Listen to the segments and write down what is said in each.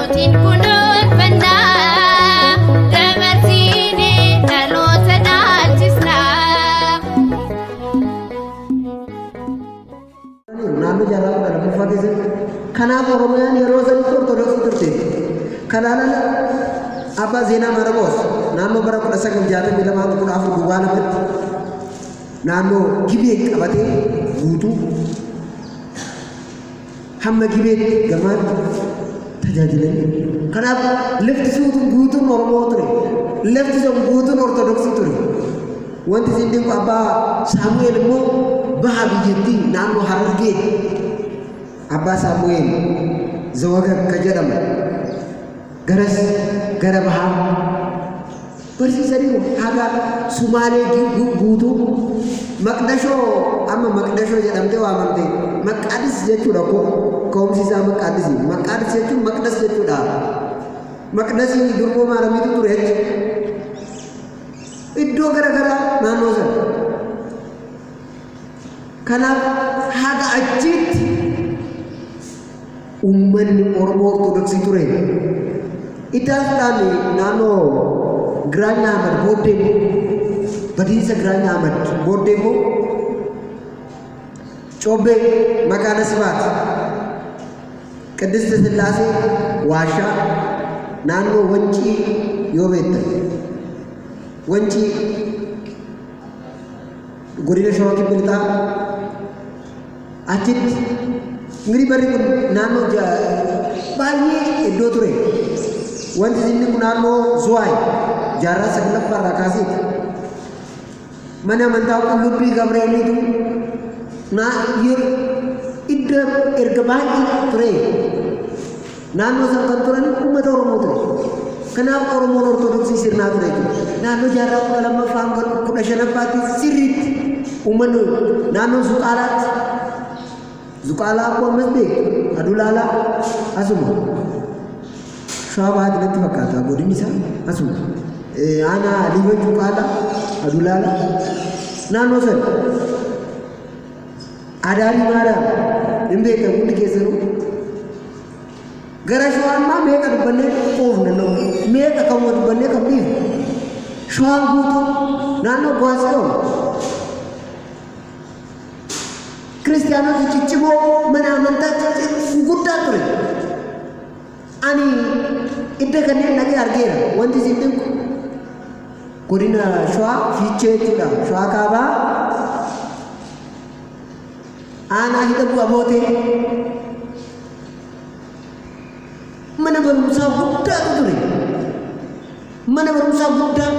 Mootiin kunuunfannaa dabarsiine dhaloota dhaalchisna. naannoo jaarraa kudha lammaffaa keessatti kanaaf oromiyaan yeroo sanitti ortodoksii turte kanaanan abbaa zeenaa maarqoos naannoo bara kudha sagal jaatamii lamaa kudha afur duwwaa lamatti naannoo gibee qabatee guutuu hamma gibeetti gamaatti tajaajilanii kanaaf lafti suutuun guutuun oromoo ture lafti sun guutuun ortodoksii ture wanti isin dinqu abbaa saamu'eel immoo baha biyyattii naannoo harargee abbaa saamu'eel zawagar ka jedhamu garas gara bahaa barsiisaniiru haga sumaalee gi- gu- guutuu maqdashoo amma maqdashoo jedhamtee waamamte maqaadis jechuudha ko ka'umsi isaa maqaadis maqaadis jechuun maqdas jechuudha maqdasii durboo maaramiitu ture iddoo gara garaa naannoo sana kanaaf haga achiitti Uummanni Oromoo Ortodoksii ture. Itaasdhaan naannoo Giraany Ahmad booddee immoo badiinsa Giraany Ahmad booddee immoo Cobbee Makaana Sibaat Qiddiste Sillaasee Waashaa naannoo Wancii yoo beektan Wancii Godina Shawaa Kibba Lixaa achitti mirii barri kun naannoo baay'ee iddoo ture. Wanti inni kun naannoo Zuwaay jaarraa saglaffaa irraa kaaseeti. Mana amantaa qullubbii Gabreeliitu naa iddoo erga baay'ee ture. Naannoo sana kan turan uummata Oromoo ture. Kanaaf Oromoon Ortodoksii sirnaa ture jechuudha. Naannoo jaarraa kudha lammaffaa hanga kudha shanaffaatti sirriitti uummanni naannoo Zuqaalaatti Zuqaalaa akkuma ammas beektu Adulaalaa asuma Shawaa Bahaatti natti fakkaata godinni isaa asuma aanaa Liiban Zuqaalaa Adulaalaa naannoo sana Adaarii Maariyaam hin beektan hundi keessanuu. Gara shawaa ammaa meeqa dubbannee oofna noo meeqa kan wa dubbannee kan dhiifne. Shawaan guutuu naannoo Gwaasiyoon kiristiyaanota ciccimoo mana amantaa ciccimoo guddaa ture. Ani idda kanneen dhaqee argeera. Wanti isin dinqu godina Shawaa Fiichee jechuudha. Shawaa Kaabaa aanaa hidha bu'a bootee mana barumsaa guddaatu ture. Mana barumsaa guddaa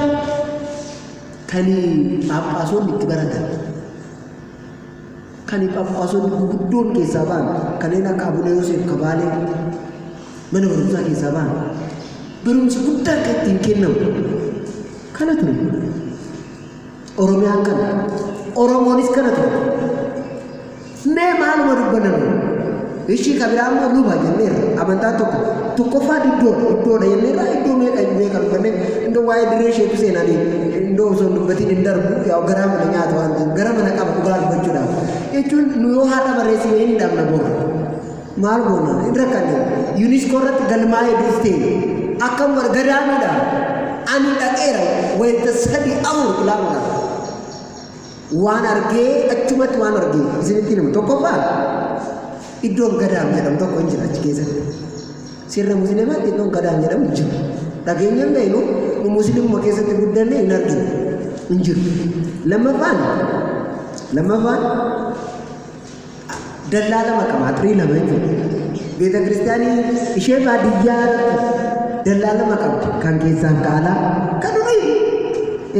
kan phaaphaasonni itti baratan. Kan Phaaphaasonni guguddoon keessaa ba'an kanneen akka Abuna Yooseef Kabaalee mana barumsaa keessaa ba'an barumsi guddaa akka ittiin kennamu kana ture. Oromiyaan kana. Oromoonis kana ture. Mee maaluma dubbanna nuyi? Ishii ka biraa immoo luba jenneerra. Amantaan tokko tokkoffaa iddoodha. Iddoodha jenneerra iddoo meeqa hin beekan uffanne iddoo waa'ee dirree isheetu seenanii iddoo osoo hin dubbatiin hin darbu yaa garaa mana nyaatu waan ta'eef gara mana qaba dhugaa dubbachuudhaaf. Jechuun nu yoo haadha barreessine hin dhabna boora. Maal goona hin rakkanne. Yuuniskoo irratti galmaa'ee duuftee akkam bar gadaamiidha. Ani dhaqeera wayita sadii afur ilaaluudhaaf. Waan argee achumatti waan argee isinitti himu tokkoffaa iddoon gadaam jedhamu tokko hin jira achi keessatti. Sirna musliimaatti iddoon gadaam jedhamu hin jiru. Dhageenya hin beeknu nu musliimuma keessatti guddanne hin arginu hin jiru. Lammaffaan lammaffaan dallaa lama qaba atirii lama jechuudha beeta kiristaanii ishee baadiyyaa dallaa lama qabdi kan keessaan kaalaa kan durii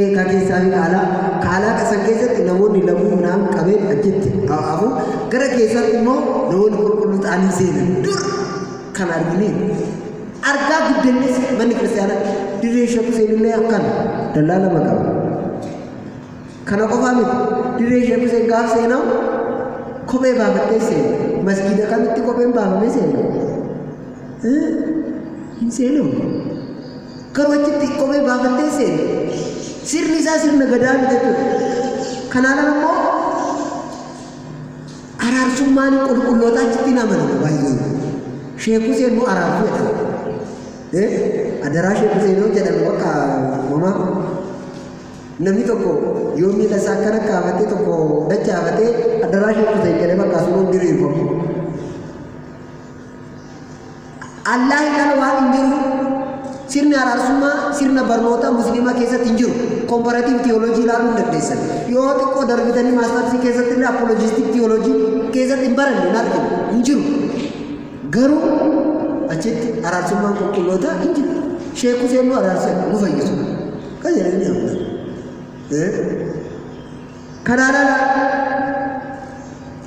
ee kan keessaan kaalaa kaalaa kasan keessatti namoonni laguu naan qabee achitti hafu gara keessatti immoo namoonni qulqulluu ta'anii seenan dur kan arginee argaa guddannis manni kiristaanaa dirree shakkuu seenillee akkana dallaa lama qaba. Kana qofaa miti, dirree Sheek Huseen gaaf seenamu kophee baafattee seena. Masgiida kamitti kopheen baafamee seena? Eh, Hin seenamu. Garuu achitti kophee baafattee seena. Sirni isaa sirna gadaa miti jechuudha. Kanaan ala immoo araarsummaan qulqullootaa achitti hin amanamu baay'een. Sheek Huseen immoo araarsuu jedhama. Eh, Adaraa Sheek Huseen yoo jedhamu bakka homaa Namni tokko yoo miila isaa akkana kaafatee tokko dachaafatee addaraa shakkuteen jedhee bakkaa sun hin diriirfamu. Allaahi kana waan hin jiru sirni araarsummaa sirna barnootaa musliimaa keessatti hin jiru. Komparaatiiv tiyooloojii ilaaluu hin dandeessan. Yoo xiqqoo darbitanii maastarsii keessatti illee apoloojistik tiyooloojii keessatti hin baranne hin argine hin jiru. Garuu achitti araarsummaan qulqullootaa hin jiru. Sheek Huseen nu araarse nu fayyisu. Kan jedhee ni amna. Kanaan ala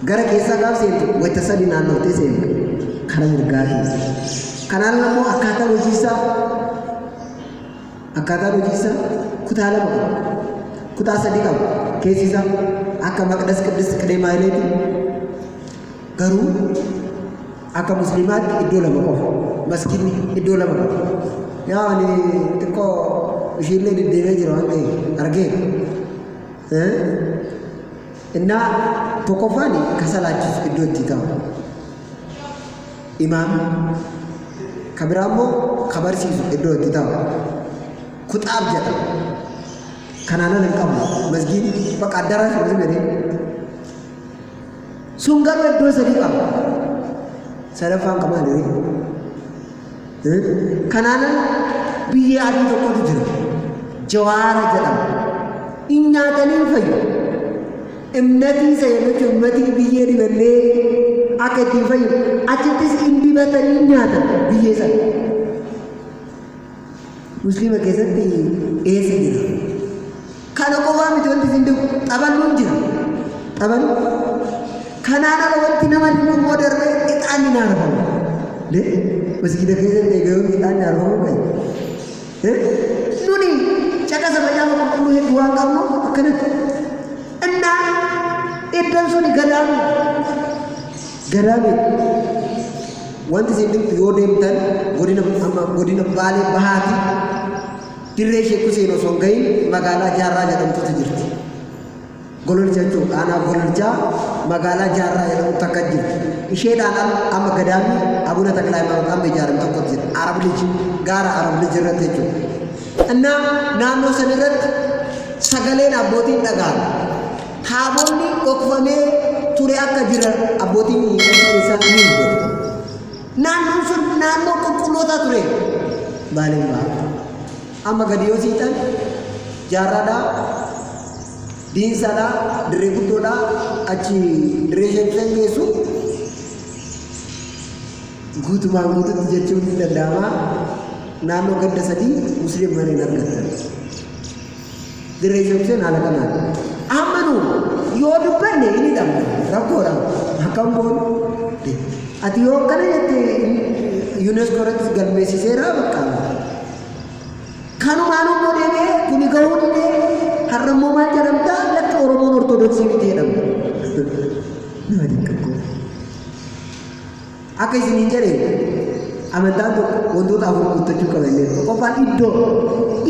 gara keessaa gaaf seentu wayita sadii naannoottee seentu kara mirgaa keessa. Kanaan ala immoo akkaataan hojiisaa akkaataan hojiisaa kutaa lama qaba. Kutaa sadii qaba. Keessi isaa akka maqdas qiddis qidee maayileeti garuu Akka musliimaatti iddoo lama qofa. Maskiinni iddoo lama qofa. Yaa ani xiqqoo ishiillee deddeebi'ee jira waan ta'eef argee. Innaa tokkoffaan ka salaachisu iddoo itti ta'u. Imaam ka biraa immoo ka barsiisu iddoo itti ta'u. Kuxaab jedha. Kanaan ala hin qabu. Masgiin bakka addaraa hin jedhee. Sun garuu iddoo sadii qaba. Sadaffaan qaba maali? Kanaanan biyyee adii tokkotu jira. Jawaara jedhama. In nyaatanii fayyu. Imnatii isa yeroo jechuun imnatii biyyee dibannee akka ittiin fayyu achittis in dibatanii nyaatan biyyee sana. Musliima keessatti eessa jira? Kana qofaa miti wanti isin beeku xaballuun jira. Xabalu kanaan ala wanti nama dhibu immoo darbee ixaanni ni argamu. Le masgiida keessatti egaa yoon ixaanni argamu kan nuni caqasa macaafa qulqulluu hedduu waan qabnu akkanatti. Innaa iddoon suni gadaamuu Ganaa miti. Wanti isin dhibtu yoo deemtan godina amma godina Baalee Bahaati dirree Sheek Huseen osoo hin gahin magaalaa Jaarraa jedhamtutu jirti. Gololcha jechuun aanaa Gololchaa magaalaa Jaarraa jedhamtu takka jirti. Isheedhaan al amma gadaamni Abuna Taklaa Haayimaanoot amma ijaarame tokko jira. Arab Lij gaara Arab Lij irratti jechuudha. Innaa naannoo san irratti sagaleen abbootiin dhaga'ame. Taabonni dhokfamee ture akka jiran abbootiin keenya achi keessaa ni dubbatu. Naannoon sun naannoo qulqullootaa ture. Baaleen bahaa. Amma gadi yoo siixan jaarraadhaa, diinsaadhaa, dirree guddoodhaa achi dirree sheekileen geessu guutumaan guututti jechuun ni danda'ama. Naannoo ganda sadii musliim mana hin argattan. Dirree Yookiin haala kanaan amma nu yoo dubbanne hin hidhamne rakkoodha akkam goonu ati yoo akkana jette yuuneeskoo irratti galmeessiseera bakka kanumaan immoo deemee kuni gahuu didee har'a immoo maal jedhamta lakki oromoon ortodoksii miti jedhamta nama dinqaqqoo Akka isin hin jedhe amantaan tokko wantoota afur guuttachuu qaba illee tokkoffaan iddoo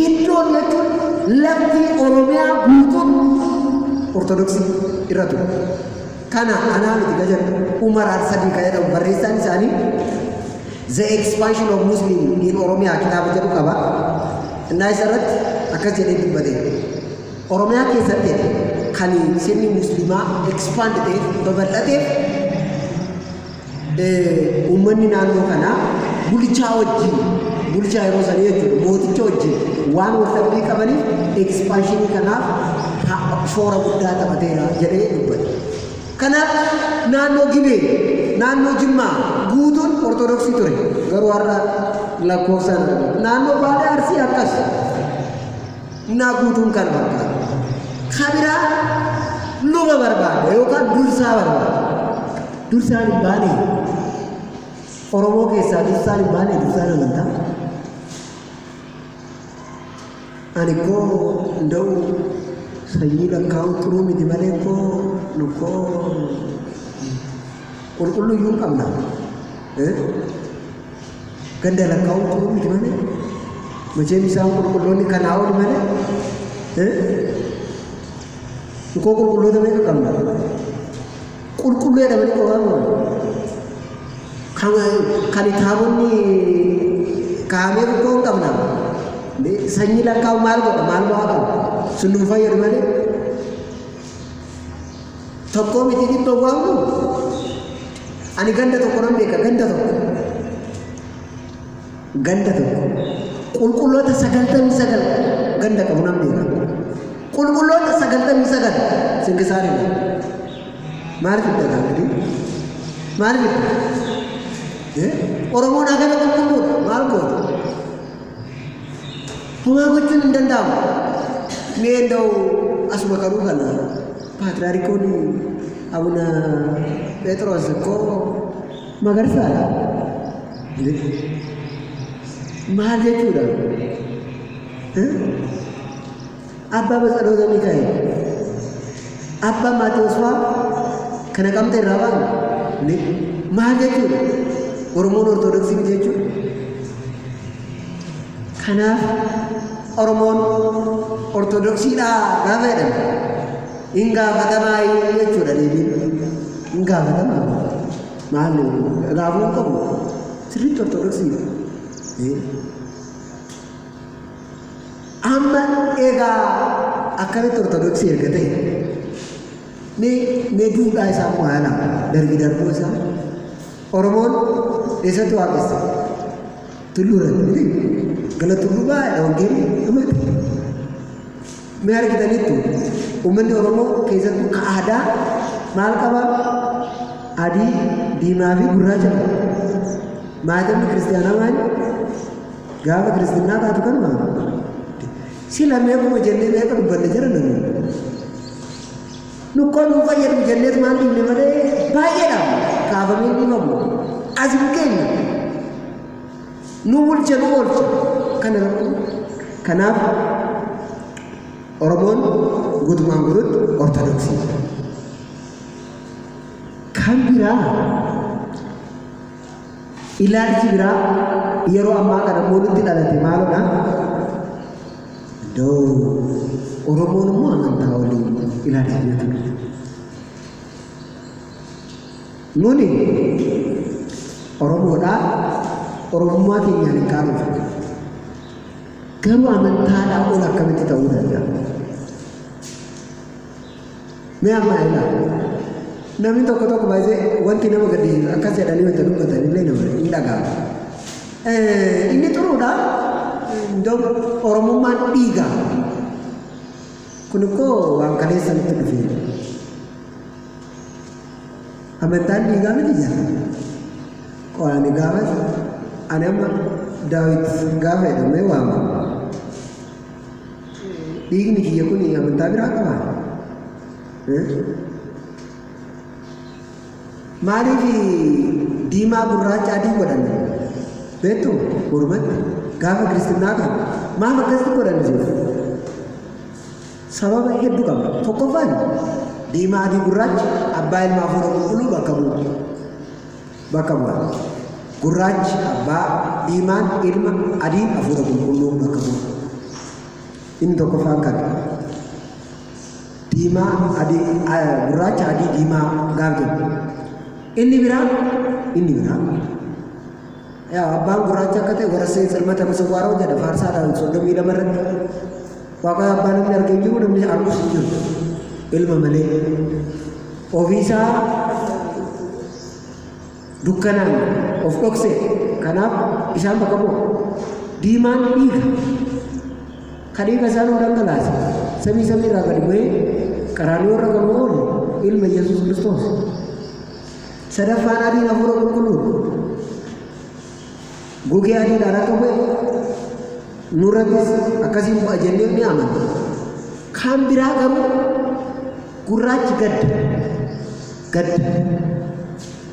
iddoo jechuun lafti oromiyaa guutuun ortodoksii irra ture kana anaa miti ka jedhu umar arsadii ka jedhamu barreessaan isaanii the expansion of muslim in oromiyaa kitaaba jedhu qaba innaa isa irratti akkas jedhee dubbate Oromiyaa keessatti kan sirni musliimaa expand ta'eef babal'ateef uummanni naannoo kanaa bulchaa wajjin bulchaa yeroo sanii jechuudha mooticha wajjin waan wal dhabbii qabaniif ekspanshinii kanaaf shoora guddaa taphateera jedhee dubbate. Kanaaf naannoo Gibee naannoo Jimmaa guutuun Ortodoksii ture garuu har'a lakkoofsaan naannoo Baalee Arsii akkas Innaa guutuun kana barbaada. Ka biraa luba barbaada yookaan dursaa barbaada. Dursaan hin baane Oromoo keessaa dursaan hin baane dursaan amantaa. Ani koo nda'u sanyii lakkaa'uu xuruu miti malee koo lukkoo qulqulluu iyyuu hin qabna. Eh? Ganda lakkaa'uun quluu miti malee macheem isaan qulqulloonni kanaa ol malee dhukoo qulqulloota meeqa qabna qulqulluu jedhamanii qofaan ol kan kan taabonni kaa'amee dhukoo hin qabna sanyii lakkaa'u maal godha maal bu'aa qaba sun nu fayyadu malee Tokkoo miti dhibba waan kun ani ganda tokko nan beeka ganda tokko ganda tokko qulqulloota sagaltamii sagal ganda qabu nan beeka qulqulloota sagaltamii sagal sinkisaari maaliif itti gaafate maaliif itti oromoon hagana qulqulluudha maal goota Homaa gochuun hin danda'amu. Mee enda'u asuma karuu kana paatraarikoon abuna Pheexroos koo magarsaadha. Maal jechuudha? Abbaa Batsaloota Mikaa'el. Abbaa Maatewos faa kana qabxee irraa ba'an ni maal jechuudha? Oromoon Ortodoksii miti jechuudha. Kanaaf Oromoon Ortodoksiidhaa gaafa jedhan hin gaafatamaa jechuudha deebiin. Hin gaafatamaa maal raafuu hin qabu sirriitti Ortodoksii. Amma egaa akkamitti ortodoksii erga ta'e mee mee duudhaa isaa immoo haa ilaalu darbi darbuu isaa Oromoon eessatti waaqessa tulluu irratti miti gala tulluu baay'ee wangeelli dhumate Mee argitaniittu uummanni Oromoo keessattuu ka aadaa maal qaba? Adii, diimaa fi gurraacha qaba. Maatamni kiristiyaanaa maali? Gaafa kiristinnaa taatu kanuma. Sila meequma jennee meeqa dubbanne jira namni. Nukkoo nuu fayyadu jennees maal dhiibne malee baay'eedha kaafamee dhiibamu. Asii keenya nu bulcha nu oolcha kana rakkoo kanaaf oromoon guutumaan guututti ortodoksii jira kan biraa ilaalchi biraa yeroo ammaa kana immoo nutti dhalate maalodha doo oromoon immoo amantaa waliin ilaalcha jedhatu Nuni Oromoodhaa, Oromummaa keenyaan hin qaanofnu. Garuu amantaadhaa ol akkamitti ta'uu danda'a? Mee amma na ilaali. Namni tokko tokko baay'ee wanti nama gaddisiisu akkas jedhanii wanta dubbatan illee nama hin dhaga'amu. Eh, Inni xuruudha. Iddoo Oromummaan dhiiga. Kun immoo waan kaleessa nutti dhufeera. Amantaan dhiigaa miti jedha. Qoraani gaafas ani amma daawit gaafa jedhamee waama. Dhiigni kiyya kun amantaa biraa qabaa? Maaliif diimaa gurraacha adii godhan beektu mormatti gaafa kiristinnaa kan maaf akkasitti godhan jechuudha. Sababa heddu qaba. Tokkoffaan diimaa fi gurraachi abbaa ilma hafuura qulqulluu bakka bu'u. Bakka bu'a. Gurraachi abbaa, diimaan ilma, adiin hafuura qulqulluu bakka bu'u. Inni tokkoffaan kana. Diimaa adii gurraacha adii diimaa gaaf jedhu. Inni biraa inni biraa yaa abbaan gurraacha akka ta'e warra seensa ilmata masawwaaroo jedha faarsaa daawwit soddomii lama irratti Waaqaa abbaa namni arge hin jiru namni argus hin jiru ilma malee ofiisaa dukkanaan of dhokse kanaaf isaan bakka bu'a diimaan dhiiga ka dhiiga isaan nu dhangalaase samii samii irraa gadi bu'ee qaraaniyoo irra kan oolu ilma yesus kiristoos sadaffaan adiin hafuura qulqulluu Gogee adiidhaan akka bu'e nurrattis akkasiin bu'a jennee ni amanna. Kaan biraa garuu gurraachi gadda. Gadda.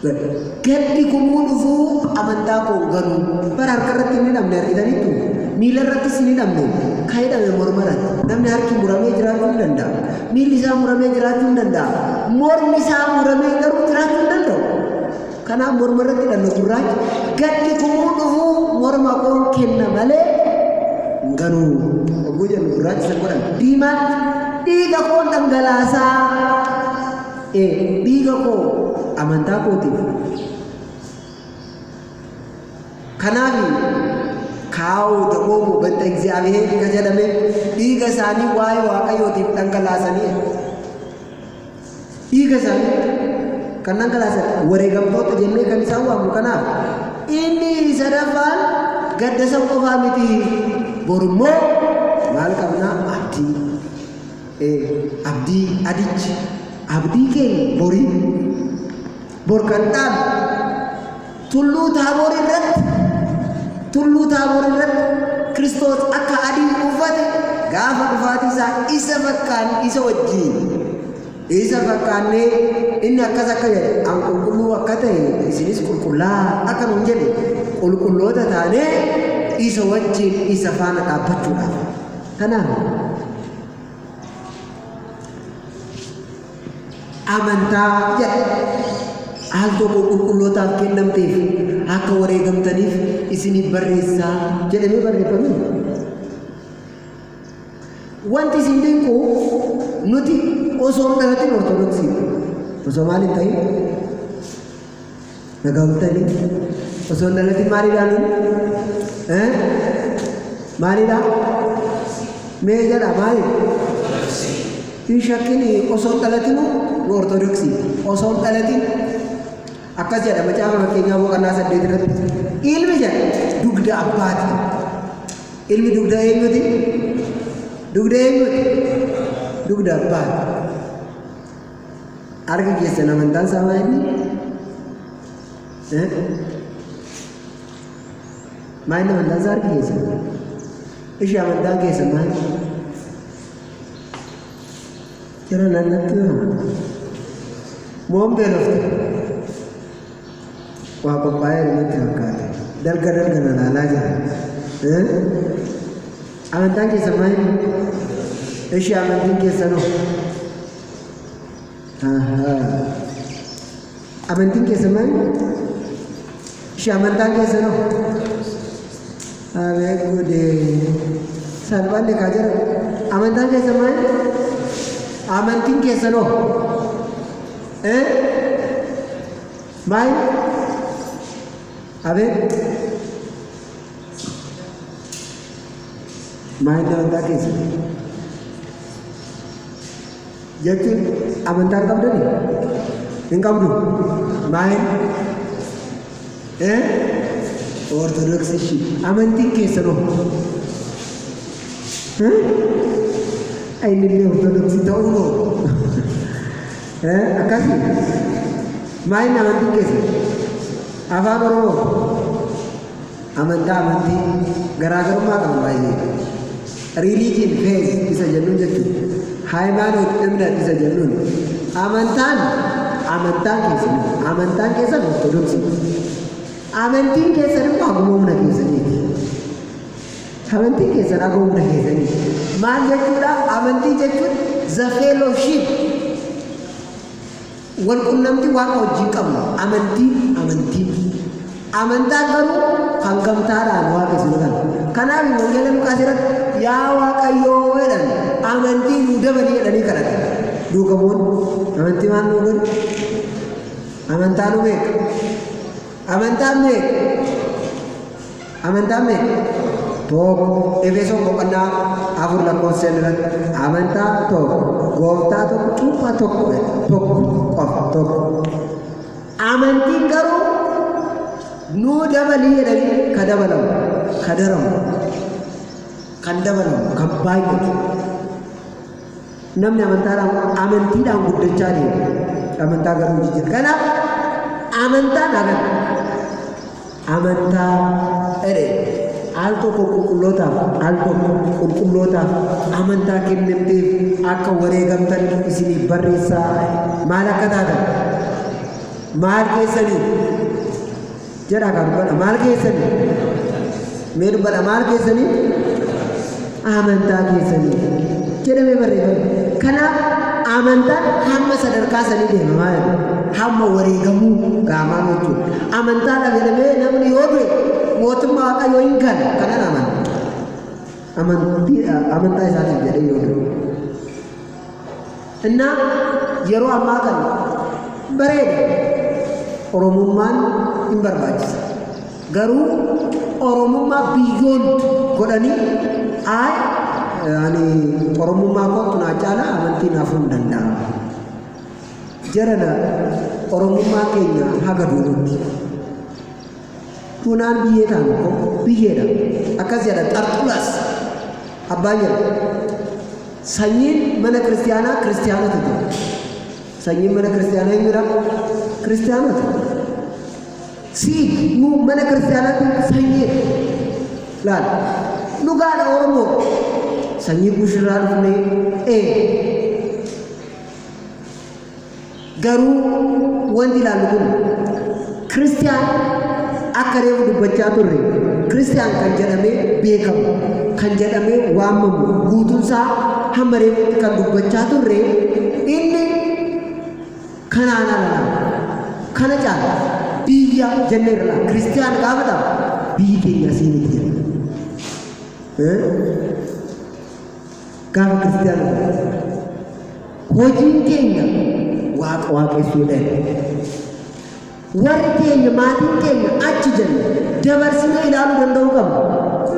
Gadda. Gaddi kummuu dhufuu amantaa koo garuu bara harka irratti hin hidhamne argitaniittu miila irrattis hin hidhamne kan hidhame morma irratti namni harki muramee jiraachuu hin danda'a. Miilli isaa muramee jiraachuu hin danda'a. Mormi isaa muramee garuu jiraachuu hin danda'u. Kanaaf morma irratti hidhanna gurraacha gaddi kumuu dhufuu morma koon kenna malee hin ganuu. Ogguu jennu gurraacha san godhan diimaan dhiiga koon dhangalaasaa. Ee dhiiga koo amantaa kootiif. Kanaaf kaa'u daboomu banta Egziyaabiheer ka jedhame dhiiga isaanii waa'ee Waaqayyootiif dhangalaasanii dhiiga isaanii kan dhangalaasan wareegamtoota jennee kan isaan waamnu kanaaf inni sadaffaan gadda san qofaa miti borummoo maal qabnaa abdii abdii adichi abdii keenya borii bor kan dhaalu Tulluu Taaboor irratti Tulluu Taaboor irratti Kiristoos akka adii uffate gaafa dhufaatii isaa isa fakkaan isa wajjin isa fakkaannee inni akkas akka jedhe an qulqulluu akka ta'e isinis qulqullaa akka nun jedhe qulqulloota taanee isa wajjin isa faana dhaabbachuudhaaf kanaaf Amantaa jedha. Al tokko qulqullootaaf kennamteef akka wareegamtaniif isiniif barreessaa jedhamee barreeffamee. Wanti isin dinqu nuti osoo hin dhalatin ortodoksii osoo maal hin ta'in Nagaa bultanii osoo hin dhalatin maaliidhaan maaliidhaan mee jedha maali hin shakkin osoo hin dhalatinu nu ortodoksii osoo hin dhalatin akkas jedha macaafa fakkeenyaa boqonnaa saddeet irratti ilmi jedha dugda abbaati ilmi dugda eenyuti dugda eenyuti dugda abbaati Harka keessan amantaan isaa maa inni? Maa inni amantaan isaa harka keessan? Ishi amantaan keessan maa inni? Jara naannatti yoo moon beelofte waa qophaa'ee irratti fakkaate dalga dalga na laalaa jira. Amantaan keessan maa inni? Ishi amantiin keessanoo? Amantiin keessan maali? Ishee amantaan keessan hoo? Abeet gudee. Salphaan egaa jira. Amantaan keessan maali? Amantiin keessan hoo? Eh? Maali? Abeet. Maal itti amantaa keessa? Jechuun amantaa hin qabdani? Hin qabdu? Maal? Eh? Ortodoksii ishii. Amantiin keessa noo? Innillee ortodoksii ta'uu noo? Eh? Akkasii? Maal inni amantiin keessa? Afaan Oromoo? Amantaa amantii garaagarummaa qabu baay'ee. Religion faith isa jennuun jechuudha. Haayimaanoot እምነት isa jennuun amantaan amantaan keessan amantaan keessan ortodoksii amantiin keessan immoo akkuma humna keessaniiti. Amantiin keessan akkuma humna keessaniiti. Maal jechuudha amantii jechuun the fellowship Walqunnamtii Waaqa wajjin qabnu amantii, amantii. Amantaan garuu kan gamtaadhaan waaqessu godhan. Kanaaf wangeela Luqaas irratti yaa Waaqayyoo jedhan amantii nuu dabali jedhanii kadhatan. Duuka bu'oonni amantii maal nuu godhu? Amantaa nu beeka. Amantaan beeka. Amantaan meeqa? 1 Efesoon boqonnaa 4 lakkoofsa 5 irratti amantaan tokko gooftaa tokko cuuphaa tokko jedha. tokko qofa tokko. Amantiin garuu nuu dabalii jedhanii ka dabalamu ka daramu kan dabalamu kan baay'atu Namni amantaadhaan amantiidhaan guddachaa deema. Amantaa garuu jijjiirra. Kanaaf amantaan hagan amantaa jedhe al tokko qulqullootaaf al tokko qulqullootaaf amantaa kennamteef akka wareegamtan isiniif barreessaa maal akka taatan maal keessanii jedhaa kaa dubbadha maal keessanii mee dubbadha maal keessanii amantaa keessanii jedhamee barreeffame kanaaf amantaan hamma sadarkaa sanii deema maal hamma wareegamuu gaamaa gochuu amantaa dhabelamee namni yoo du'e mootummaa waaqayyoo hin gala kanan amanta amantii amantaa isaatiif jedhee yoo du'e እና yeroo ammaa kana bareeda oromummaan hin barbaachisa garuu oromummaa biyyoon godhanii aay ani oromummaa kootu naa caala amantii naaf hin danda'amu jarana oromummaa keenya haga duudutti Tuunaan biyyee ta'an ko biyyeedha. Akkas jedha Xarxulaas abbaan jedha. Sanyiin mana kiristiyaanaa kiristiyaanota jedha. Sanyiin mana kiristiyaanaa eenyudha? Kiristiyaanota. Siid nu mana kiristiyaanaatiin sanyiidha. Laal. Dhugaadha Oromoo. Sanyii kuushirraa dhufnee ee Garuu wanti ilaallu kun Kiristiyaan akka reefu dubbachaa turre Kiristiyaan kan jedhamee beekamu kan jedhamee waamamu guutunsaa hamma reefutti kan dubbachaa turre inni kanaan alaa kana caala biyya jennee irra laala. Kiristiyaan gaafa ta'u biyyi keenya asii miti jenna. Eh? Gaaf Kiristiyaana Muraasa. Hojiin keenya Waaqa waaqessuu dha. Warri keenya maatiin keenya achi jenna dabarsinee ilaaluu danda'uu qabna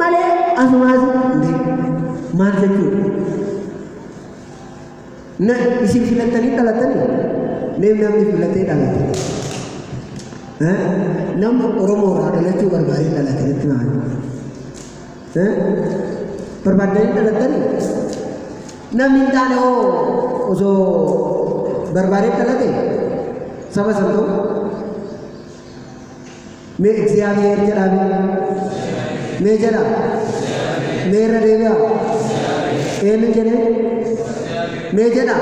malee asumaas maal jechuudha? Na isin filattanii dhalatanii mee namni filatee dhalate. Nama Oromoo irraa dhalachuu barbaadee dhalate jechuudha. Barbaaddanii dhalattanii? Namni hin taane hoo osoo barbaadee dhalate saba san ta'u? Mee Egziyaabiheer jedhaa mee? Mee jedhaa? Mee irra deebi'aa? Eenyu jedhee? Mee jedhaa?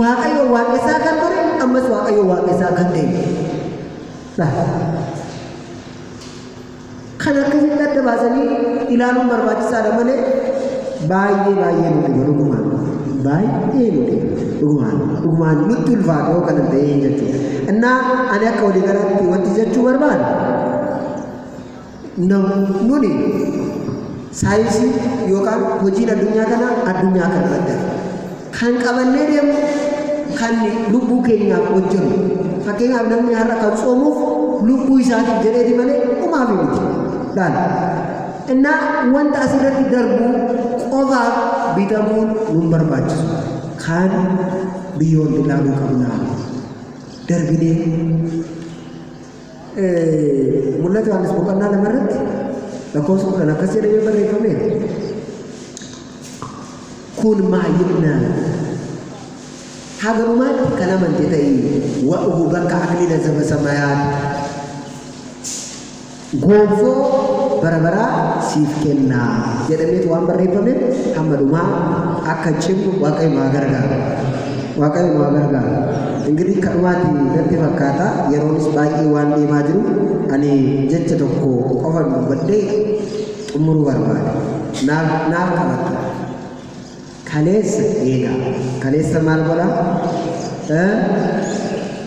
Waaqayyoon waaqessaa kan ture ammas Waaqayyoon waaqessaa kan ta'e dha. Kan akkasitti adda baasanii ilaaluun barbaachisaadha malee baay'ee baay'ee nu dhiba dhugumaan. Baay'ee nu dhiba dhugumaan. Dhugumaan nutti ulfaata yoo kana ta'ee jechuudha. Innaa ani akka walii galaatti wanti jechuu barbaadu Nuni saayinsii yookaan hojiin addunyaa kanaa addunyaa kana irratti kan qabannee deemu kan lubbuu keenyaaf hojjennu fakkeenyaaf namni har'a kan soomuuf lubbuu isaatiif jedheeti malee umaaf miti laala innaa wanta asirratti darbu qofaaf bitamuun nun barbaachisu kan biyyoon ilaaluu qabnaa darbinee Mul'ata Yohaannis boqonnaa lama irratti lakkoofsa kudhan akkas jedhamee barreeffame. Kun maayilna haga dhumaatti kan amante ta'e wa'uhu bakka akliila zaba samayaat gonfoo bara baraa siif kenna jedhameetu waan barreeffame hamma dhumaa akka cimnu waaqayyo haa gargaaru. Waaqayyo nu haa gargaaru. Ingirii kanumaati natti fakkaata yeroonis baay'ee waan deemaa jiru ani jecha tokko qofan dubbadhee xumuruu barbaada. Naaf naaf qabatta. Kaleessa eegaa kaleessa maal godhaa?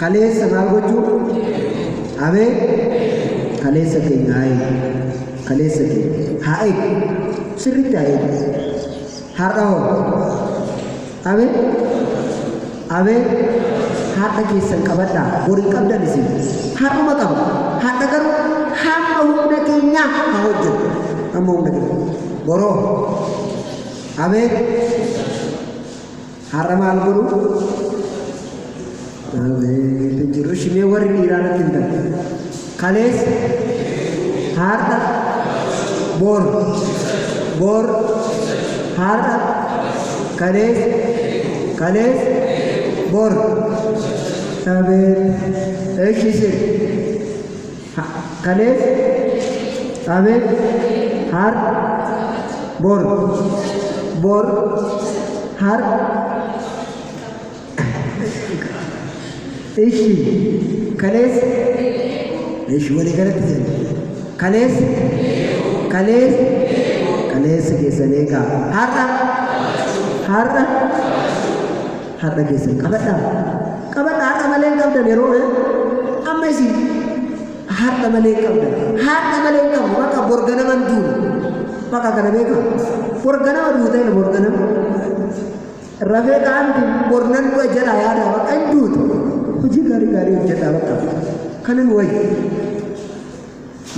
Kaleessa maal gochuu? Abee kaleessa keenya haa eegu. Kaleessa keenya haa eegu. Sirriitti haa eegu. Har'a hoo? Abee abee har'a keessan qabadhaa. Bor hin qabdan isin. Har'uma qaba. Har'a garuu hamma humna keenyaa haa hojjetu. Hamma humna keenya. Boroo abee Har'a maal godhu? Hin jiru. Shimee warri dhiiraa natti hin darbe. Kalees har'a boor boor har'a kalees kalees boor. Sabee. Eeshi isin. Ha, kaleessa, abet, har, bor, bor, har, ishi, kaleessa, ishi walii galatti jenna. Kaleessa, kaleessa, kaleessa keessan eegaa. Har'a, har'a, Har'a keessan qabadhaa. Qabadha har'a malee hin qabdan yeroo eh? amma isin har'a malee hin qabdan. Har'a malee hin qabdu bakka bor ganama hin duune. Bakka kana beeka. Bor ganama duute jedha bor ganama. Rafee qaamti bor nan du'a jedha yaada bakka hin duutu. Hojii gaarii gaarii hojjedha bakka. Kanin wayyi.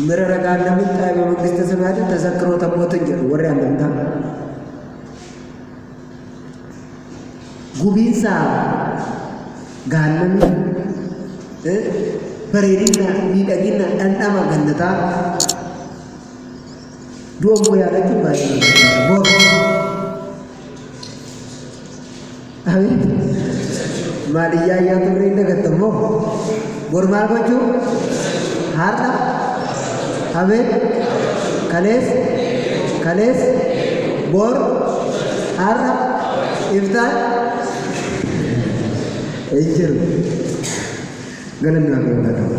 Mira ragaan namni xaayibaa mangista samaati tasakkiroo taphootan jedhu warri amantaa. Gubiinsa gaannamii bareedina miidhagina dhandhama gannataa du'a immoo yaadachuun baay'ee barbaachisaadha. Boor. Maal iyyaa iyyaa turree hin dagattammoo? Bor maal gochuu? Har'a, Habe, Kalees, Kalees, Bor, Har'a, Iftaan, hin jiru. Galanni Waaqayyoof haa ta'u.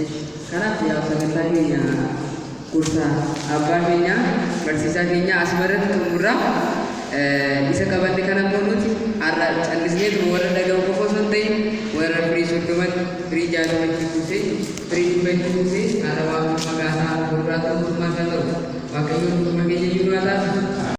Esh, kanaaf yaa sagantaa keenya gorsa abbaa keenya barsiisaa keenya asuma irratti xumurra Eh, isa qabanne kana immoo nuti har'a callisnee tuma warra dhaga'u qofa osoo hin ta'in warra firii soddoman firii jaatama itti kuusee firii dhibba itti kuusee har'a waan maqaa isaa gurguraatu mootummaa isaa ta'u waaqayyoon mootummaa keenya iyyuu nu haa taasisu.